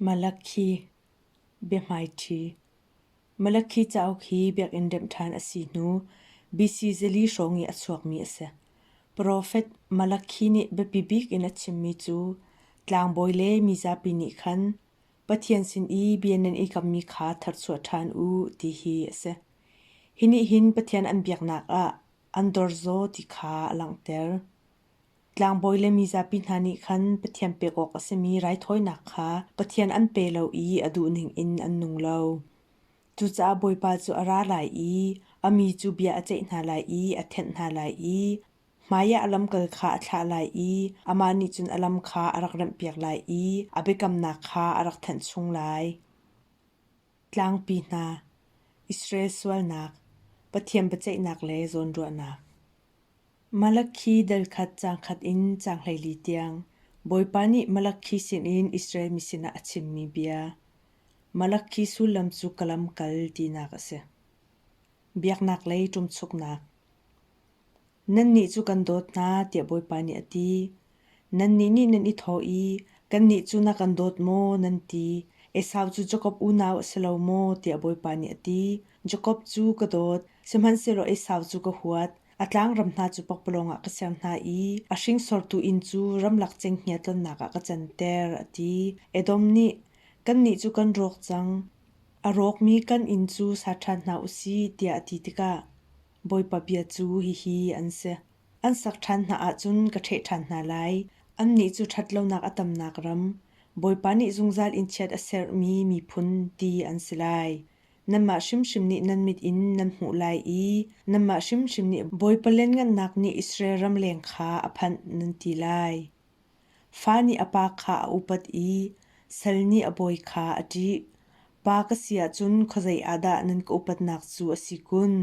Malakhi cauk hi biakinn remh ṭhan a si hnu BC zili hrawng i a chuakmi a si. Profet Malakhi nih biapi bik in a chimmi cu tlangbawi le mizapi nih khan Pathian sin i bia nan i kammi kha tharchuah ṭhan u ti hi a si. Hi nih hin Pathian an biaknak ah an dorzaw ti kha a langhter. Tlangbawi le mizapi hna nih khan Pathian pek awk a simi raithawinak kha Pathian an pe lo i a duhning in an nung lo. Cucaah Bawipa cu a ra lai i a mi cu bia a ceih hna lai i a thenh hna lai i hmaiah a lamkal kha a thlah lai i amah nih cun a lam kha a rak remhpiak lai i a biakamnak kha a rak thenh chung lai. Tlangpi hna, Israel sualnak, Pathian biaceihnak le zawnruahnak. Malakhi delkhat cangkhat in cang hleili tiang Bawipa nih Malakhi sinin Israel mi sinah a chimmi bia, Malakhi sullam cu ka lamkal tinak a si. Biaknak lei ṭumchuknak Nannih cu kan dawt hna, tiah Bawipa nih a ti. Nannih nih nan i thawh i, “Kannih cu na kan dawt maw?” nan ti. Esau cu Jakob unau a si lo maw? tiah Bawipa nih a ti. Jakob cu ka dawt, sihmanhsehlaw Esau cu ka huat. A tlangram hna cu pakpalawng ah ka ser hna i a hringsortu inn cu ramlak cenghngia tlonnak ah ka canter, a ti. Edom nih, “Kannih cu kan rawk cang. A rawkmi kan inn cu sa ṭhan hna u sih,” tiah a ti tikah, Bawipa bia cu hihi an si. An sak ṭhan hna ahcun ka ṭheh ṭhan hna lai. Annih cu ṭhatlonak a tamnak ram, Bawipa nih zungzal in chiat a sermi miphun ti an si lai. Nanmah hrimhrim nih nan mit in nan hmuh lai i nanmah hrimhrim nih Bawipa lianngannak nih Israel ram leng kha a phanh nan ti lai. Fa nih a pa kha a upat i sal nih a bawi kha a ṭih. Pa ka si ahcun khuazei ah dah nan ka upatnak cu a si kun?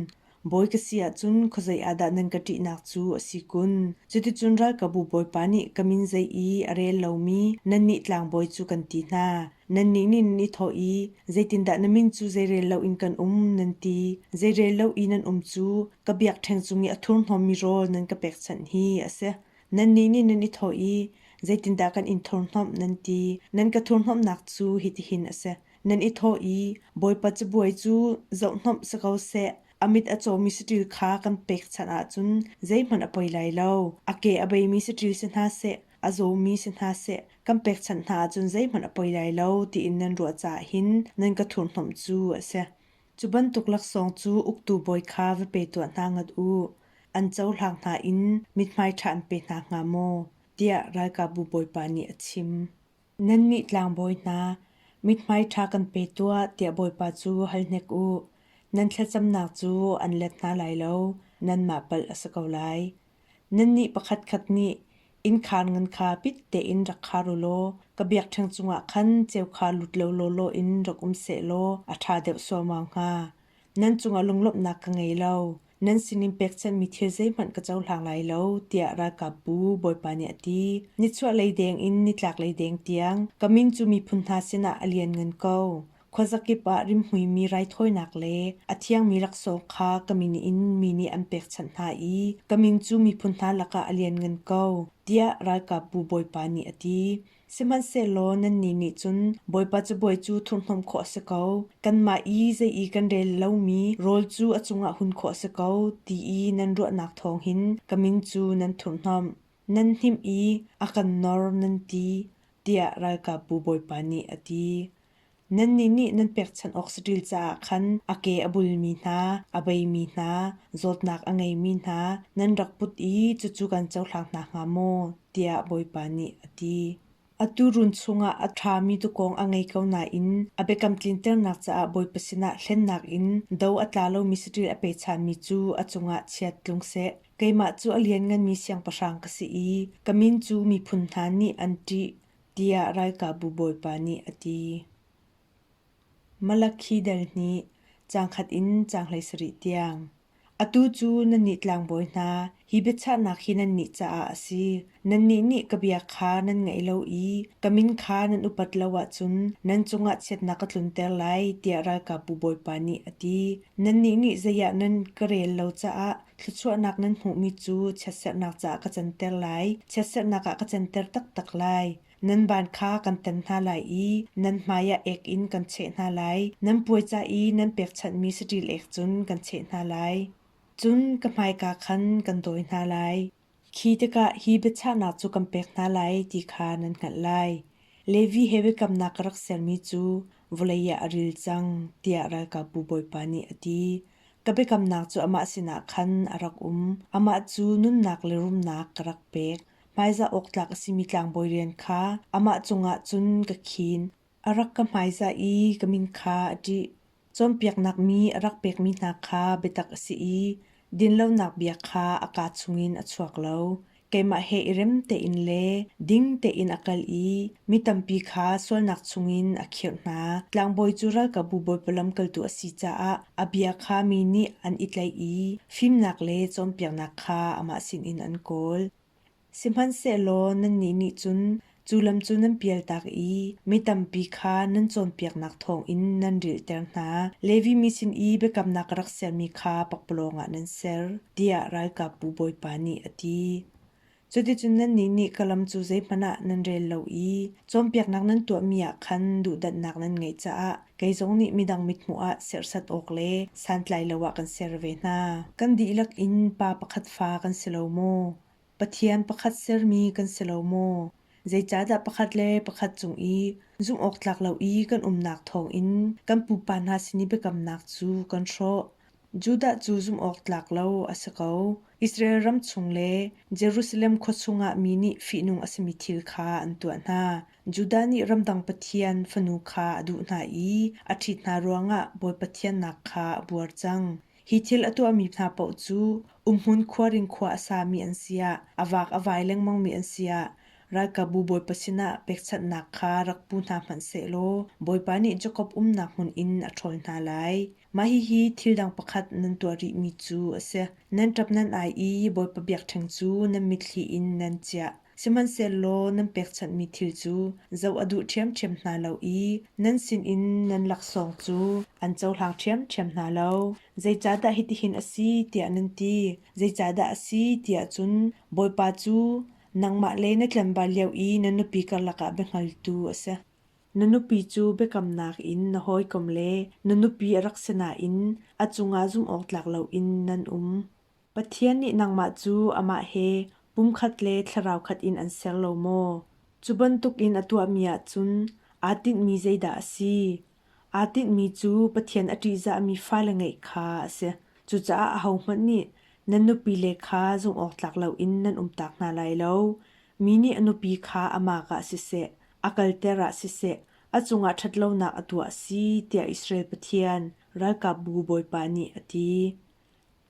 Bawi ka si ahcun khuazei ah dah nan ka ṭihnak cu a si kun? Cuticun ralkabu bawipa nih ka min zei i a rel lomi nannih tlangbawi cu kan ti hna. Nannih nih nan i thawh i, Zeitindah na min cu zeirel loin kan um? nan ti. Zeirel lo i nan um cu ka biakṭheng cung i a thurhnawmmi rawl nan ka pekchanh hi a si. Nannih nih nan i thawh i, Zeitindah kan in thurhhnawmh nan ti? Nan ka thurhhnawmhnak cu hitihin a si: Nan i thawh i, Bawipa cabuai cu zohhnawmh si ko seh, a mit a cawmi saṭil kha kan pekchanh ahcun zeihmanh a poi lai lo. A ke a beimi saṭil si hna seh, a zawmi si hna seh, kan pekchanh hna ahcun zeihmanh a poi lai lo, tiin nan ruah caah hin nan ka thurhhnawmh cu a si. Cu bantuk laksawng cu uktu bawi kha va pe tuah hna ngat u. An cohlang hna in mithmai ṭha an pe hna hnga maw? tiah ralkapbu bawipa nih a chim. Nannih tlangbawi hna, mithmai ṭha kan pe tuah tiah bawipa cu hal hnek u. Nan thlacamnak cu an let hna lai lo, nanmah palh a si ko lai. Nannih pakhatkhat nih innkhaan ngan kha pit tein rak khar u law ka biakṭheng cungah khan ceu kha lut lo lawlaw in rak um seh law a ṭha deuh suaumau hnga. Nan cungah lunglawmhnak ka ngei lo, nan sinin pekchanhmi thil zeihmanh ka cohlang lai lo, tiah ralkapbu Bawipa nih a ti. Nichuahlei deng in nitlaklei deng tiang ka min cu miphun hna sinah a lianngan ko. Khuazakip ah rimhmuimi raithawinak le a thiangmi laksawng kha ka min in mi nih an pekchanh hna i ka min cu miphun hna lakah a lianngan ko, tiah ralkapbu Bawipa nih a ti. Sihmanhsehlaw nannih nih cun Bawipa cabuai cu thurhhnawmh khawh a si ko, kanmah i zei i kan rel lomi rawl cu a cungah hun khawh a si ko, ti i nan ruahnak thawng hin ka min cu nan thurhhnawmh, nan hnim i a kan nor, nan ti, tiah ralkapbu Bawipa nih a ti. Nannih nih nan pekchanh awk saṭil caah khan a ke a bulmi hna, a beimi hna, zawtnak a ngeimi hna nan rak put i cucu kan cohlang hna hnga maw? tiah Bawipa nih a ti. Atu run chungah a ṭhami tukawng a ngei ko nain a biakam tlinternak caah Bawipa sinah hlennak in do a tla lomi saṭil a pechanmi cu a cungah chiat tlung seh. Keimah cu a liannganmi siangpahrang ka si i ka min cu miphun hna nih an ṭih. tiah ralkapbu bawipa nih a ti. Malakhidel nih cangkhat in cang hleisarih tiang, atu cu nannih tlangbawi hna, hi biachahnak hi nannih caah a si. Nannih nih ka bia kha nan ngaih lo i ka min kha nan upat lo ahcun nan cungah chiatnak ka tlunter lai, tiah ralkapbu bawipa nih a ti. Nannih nih zeiah nan ka rel lo caah Thluachuahnak nan hmuhmi cu chiatserhnak caah ka canter lai. Chiatserhnak ah ka canter taktak lai. Nan ban kha kan tan hna lai i nan hmaiah ek in kan cheh hna lai. Nan puaica i nan pekchanhmi saṭil ek cun kan cheh hna lai. Cun ka hmaika khan kan dawi hna lai. Khi tikah hi biachahnak cu kan pek hna lai ti kha nan hngalh lai. Levi he biakamnak ka rak sermi cu vawlei ah a ril cang, tiah ralkapbu Bawipa nih a ti. Ka biakamnak cu amah sinah khan a rak um. Amah cu nunnak le rumnak ka rak pek. Hmaizah awk tlak a simi tlangbawi rian kha amah cungah cun ka khin. a rak ka hmaizah i ka min kha a ṭih. Cawnpiaknak mi a rak pekmi hna kha biatak a si i dinlonak bia kha a kaa chungin a chuak lo. Keimah he i rem tein le ding tein a kal i mi tampi kha sualnak chungin a khirh hna. Tlangbawi cu ralkapbu bawipa lamkaltu a si caah a bia kha mi nih an i tlaih i fimnak le cawnpiaknak kha amah sinin an kawl. Sihmanhsehlaw nannih nih cun cu lam cu nan pialtak i mi tampi kha nan cawnpiaknak thawngin nan rilhter hna. Levi mi sin i biakamnak rak sermi kha pakpalawng ah nan ser, tiah ralkapbu Bawipa nih a ti. Cuticun nannih nih ka lam cu zeihmanh ah nan rel lo i cawnpiaknak nan tuahmi ah khan duhdanhnak nan ngeih caah Kei zong nih midang mithmuh ah serhsat awk le santlai lo ah kan ser ve hna. Kan dihlak in pa pakhat fa kan si lo maw? Pathian pakhat sermi kan si lo maw? Zeicahdah pakhat le pakhat cung i zumhawktlak lo i kan umnak thawngin kan pupa hna sin i biakamnak cu kan hrawh? Judah cu zumhawktlak lo a si ko. Israel ram chung le Jerusalem khua chungah mi nih fihnung a simi thil kha an tuah hna. Judah nih ramdang pathian fanu kha a duh hna i a ṭhit hna ruangah Bawipa thiannak kha a buar cang. Hi thil a tuahmi hna paoh cu Umhmun khua ring khua a sami an si ah, a vaak a vai lengmangmi an si ah, ralkapbu Bawipa sinah pekchanhnak kha rak pu hna hmanh sehlaw Bawipa nih Jakob umnak hmun in a ṭhawl hna lai. Mah hihi thil dang pakhat nan tuah rihmi cu a si: nan ṭap nan ai i Bawipa biakṭheng cu nan mitthli in nan chiah. Sihmanhsehlaw nan pekchanhmi thil cu zoh a duh ṭhiamṭhiam hna lo i nan sinin nan laksawng cu an cohlang ṭhiamṭhiam hna lo. Zeicahdah hitihin a si tiah nan ti? Zeicahdah a si tiah cun Bawipa cu nangmah le na tlanval lio i na nupi karlak ah biahngaltu a si. Na nupi cu biakamnak in na hawikom le na nupi a rak si nain a cungah zumhawktlak loin nan um. Pathian nih nangmah cu amah he pumkhat le thlarau khat in an ser lo maw? Cu bantukin a tuahmi ahcun aa tinhmi zeidah a si? Aa tinhmi cu Pathian a ṭihzahmi fale ngeih kha a si. Cucaah ahohmanh nih nan nupile kha zumhawktlak loin nan umtak hna lai lo. Mi nih a nupi kha amah ah siseh, a kalter ah siseh, a cungah ṭhatlonak a tuah a si tiah Israel Pathian, Ralkapbu Bawipa nih a ti.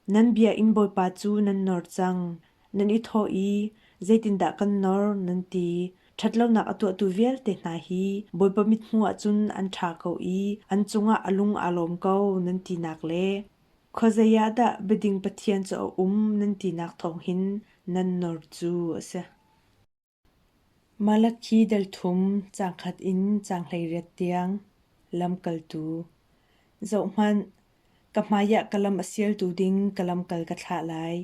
Nan biakinn bawipa cu nan nor cang, nan i thawh i, Zeitindah kan nor? nan ti. Ṭhatlonak a tuahtu vialte hna hi Bawipa mithmuh ah cun an ṭha ko i an cungah a lung aa lawm ko, nan tinak le Khuazei ah dah biading pathian cu a um? nan tinak thawng hin nan nor cu a si. Malakhi delthum caangkhat in caanghleiriat tiang lamkaltu. Zohhmanh, ka hmaiah ka lam a sialtu ding ka lamkal ka thlah lai.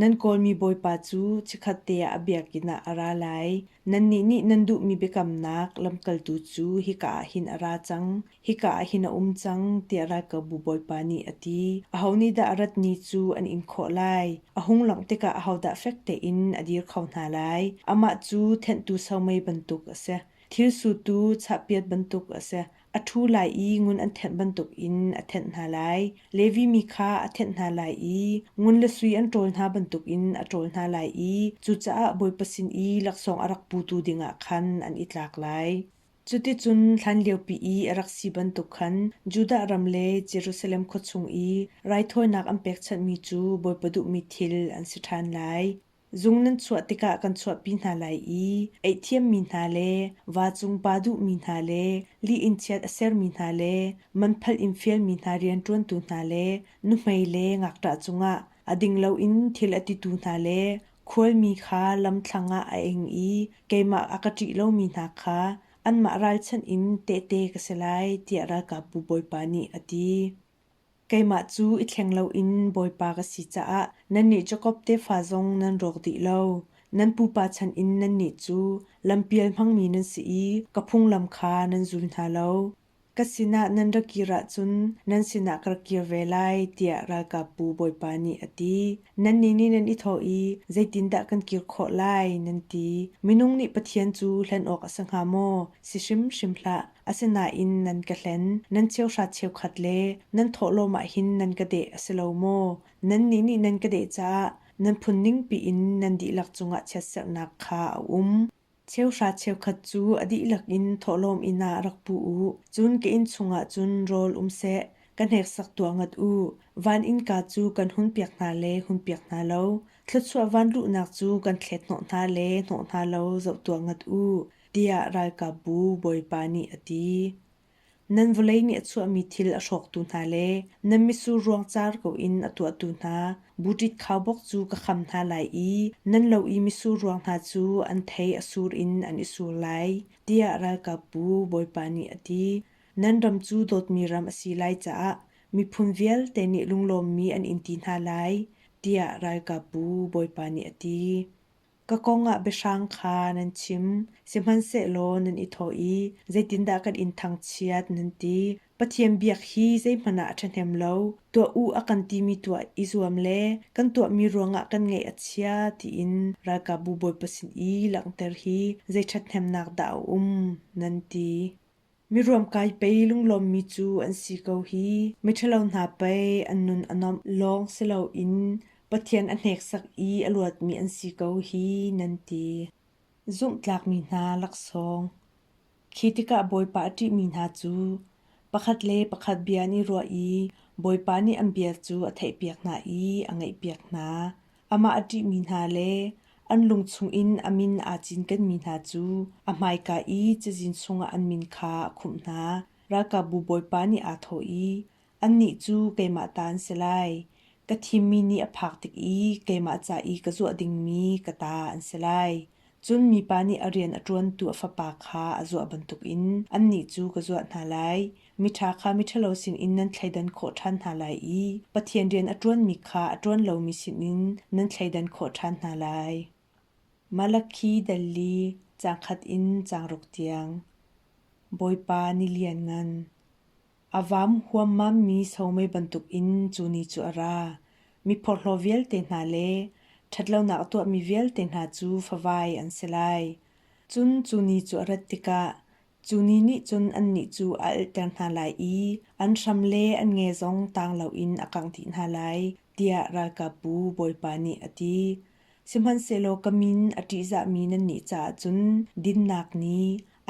Nan kawlmi Bawipa cu chikkhatte ah a biakinn ah a ra lai. Nannih nih nan duhmi biakamnak lamkaltu cu hika ah hin a ra cang. Hika ah hin a um cang, tiah ralkapbu bawipa nih a ti. Aho nih dah a rat ni cu an in khawh lai? A hung langh tikah ahodah fek tein a dir kho hna lai? Amah cu thenhtu somei bantuk a si. Thil sutu chahpiat bantuk a si. A ṭhu lai i ngun an thenh bantukin a thenh hna lai. Levi mi kha a thenh hna lai i ngun le sui an ṭawl hna bantukin a ṭawl hna lai i cucaah Bawipa sin i laksawng a rak putu dingah khan an i tlak lai. Cuticun hlanliopi i a rak si bantuk khan Judah ram le Jerusalem khua chung i raithawinak an pekchanhmi cu bawipa duhmi thil an si ṭhan lai. Zung nan chuah tikah kan chuahpi hna lai i eihthiammi hna le vacung pa duhmi hna le li in chiat a sermi hna le manphal in fialmi hna rianṭuantu hna le nuhmei le ngakṭah cungah a ding loin thil a titu hna le Khualmi kha lamthlang ah a ing i keimah a ka ṭih lomi hna kha anmah ralchanh in tehte ka si lai, tiah ralkapbu bawipa nih a ti. Keimah cu i thleng loin bawipa ka si caah nannih Jakob tefa zong nan rawk dih lo. Nan pupa chan in nannih cu lampial hmangmi nan si i ka phunglam kha nan zul hna lo. Ka sinah nan ra kir ahcun nan sinah ka ra kir ve lai tiah ralkapbu bawipa nih a ti. Nannih nih nan i thawh i, Zeitindah kan kir khawh lai? nan ti. Minung nih Pathian cu hlen awk a si hnga maw? Si hrimhrim hlah. Asinain nan ka hlen, nan cheuhrat cheukhat le nan thawhlawm ah hin nan ka deh a si lo maw? Nannih nih nan ka deh caah nan phun ningpi in nan dihlak cungah chiatserhnak kha a um. Cheuhra cheukhat cu a dihlak in thawhlawm inn ah rak pu u. Cun ka inn chungah cun rawl um seh, ka hneksak tuah ngat u. Van innka cu kan hun piak hna le hun piak hna lo. Thluachuah vanluhnak cu kan thlet hnawh hna le hnawh hna lo zoh tuah ngat u, tiah ralkapbu Bawipa nih a ti. Nan vawlei nih a chuahmi thil a hrawktu hna le nan mitsur ruangcar ko in a tuahtu hna buṭit khaubawk cu ka kham hna lai i nan lo i mitsur ruang hna cu an thei a sur in an i sur lai, tiah ralkapbu Bawipa nih a ti. Nan ram cu dawtmi ram a si lai caah miphun vialte nih lunglawmmi an in ti hna lai, tiah ralkapbu Bawipa nih a ti. Ka kong ah biahrang kha nan chim, sihmanhsehlaw nan i thawh i, Zeitindah kan in thangchiat? nan ti. Pathian biak hi zeihmanh ah a ṭhahnem lo, tuah u a kan timi tuah i zuam le kan tuahmi ruangah kan ngaih a chia tiin ralkapbu bawipa sin i langhter hi zei ṭhathnemnak dah a um? nan ti. Miruam kai pei lunglawmmi cu an si ko hi. Miṭhalo hna pei an nun a nuamh lawng si loin Pathian a hneksak i a luatmi an si ko hi, nan ti. Zumhtlakmi hna laksawng Khi tikah Bawipa a ṭihmi hna cu pakhat le pakhat bia an i ruah i Bawipa nih an bia cu a theihpiak hna i a ngaihpiak hna. amah a ṭihmi hna le an lung chungin a min aa cinkenmi hna cu a hmaika i cazin chungah an min kha a khumh hna. Ralkapbu bawipa nih aa thawh i, Annih cu keimah ta an si lai. Ka thimmi nih a phak tik i keimah ca i ka zuah dingmi ka ta an si lai. Cun mipa nih a rian a ṭuantu a fapa kha a zuah bantukin annih cu ka zuah hna lai. Miṭha kha miṭhalo sinin nan thleidan khawh ṭhan hna lai i Pathian rian a ṭuanmi kha a ṭuan lomi sinin nan thleidan khawh ṭhan hna lai. Malakhi dal li caang khat in caang ruk tiang. Bawipa ni lianngan. A vam huammammi somei bantukin cu ni cu a ra. Mi phawrhlaw vialte hna le ṭhatlonak a tuahmi vialte hna cu favai an si lai. Cun cu ni cu a rat tikah cu ni nih cun annih cu a alhter hna lai i an hram le an nge zong tang loin a kangh dih hna lai, tiah ralkapbu Bawipa nih a ti. Sihmanhsehlaw ka min a ṭihzahmi nannih caah cun dinnak ni,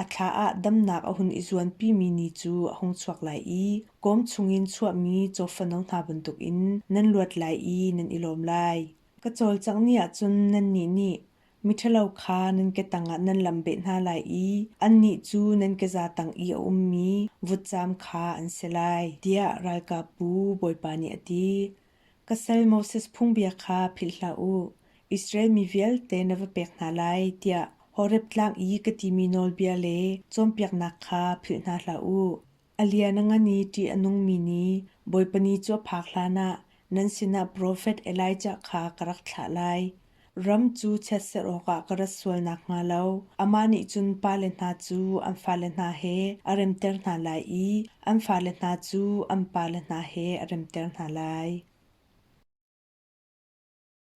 a thla ah damnak a hun i zuanpimi ni cu a hung chuak lai i kawm chungin chuahmi cawfano hna bantukin nan luat lai i nan i lawm lai. Ka cawlcangh ni ah cun nannih nih miṭhalo kha nan ke tangah nan lamhbeh hna lai i annih cu nan keza tang i a ummi vutcaam kha an si lai, tiah ralkapbu Bawipa nih a ti. Ka sal Moses phungbia kha philh hlah u, Israel mi vialte na va pek hna lai, tiah Horeb Tlang i ka timi nawlbia le cawnpiaknak kha philh hna hlah u. A lian a ngan i ṭih a nungmi ni, Bawipa ni cu a phak hlanah nan sinah profet Elijah kha ka rak thlah lai. Ram cu chiatserh awkah ka rat sual nakhnga lo amah nih cun pale hna cu an fale hna he a remter hna lai i an fale hna cu an pale hna he a remter hna lai.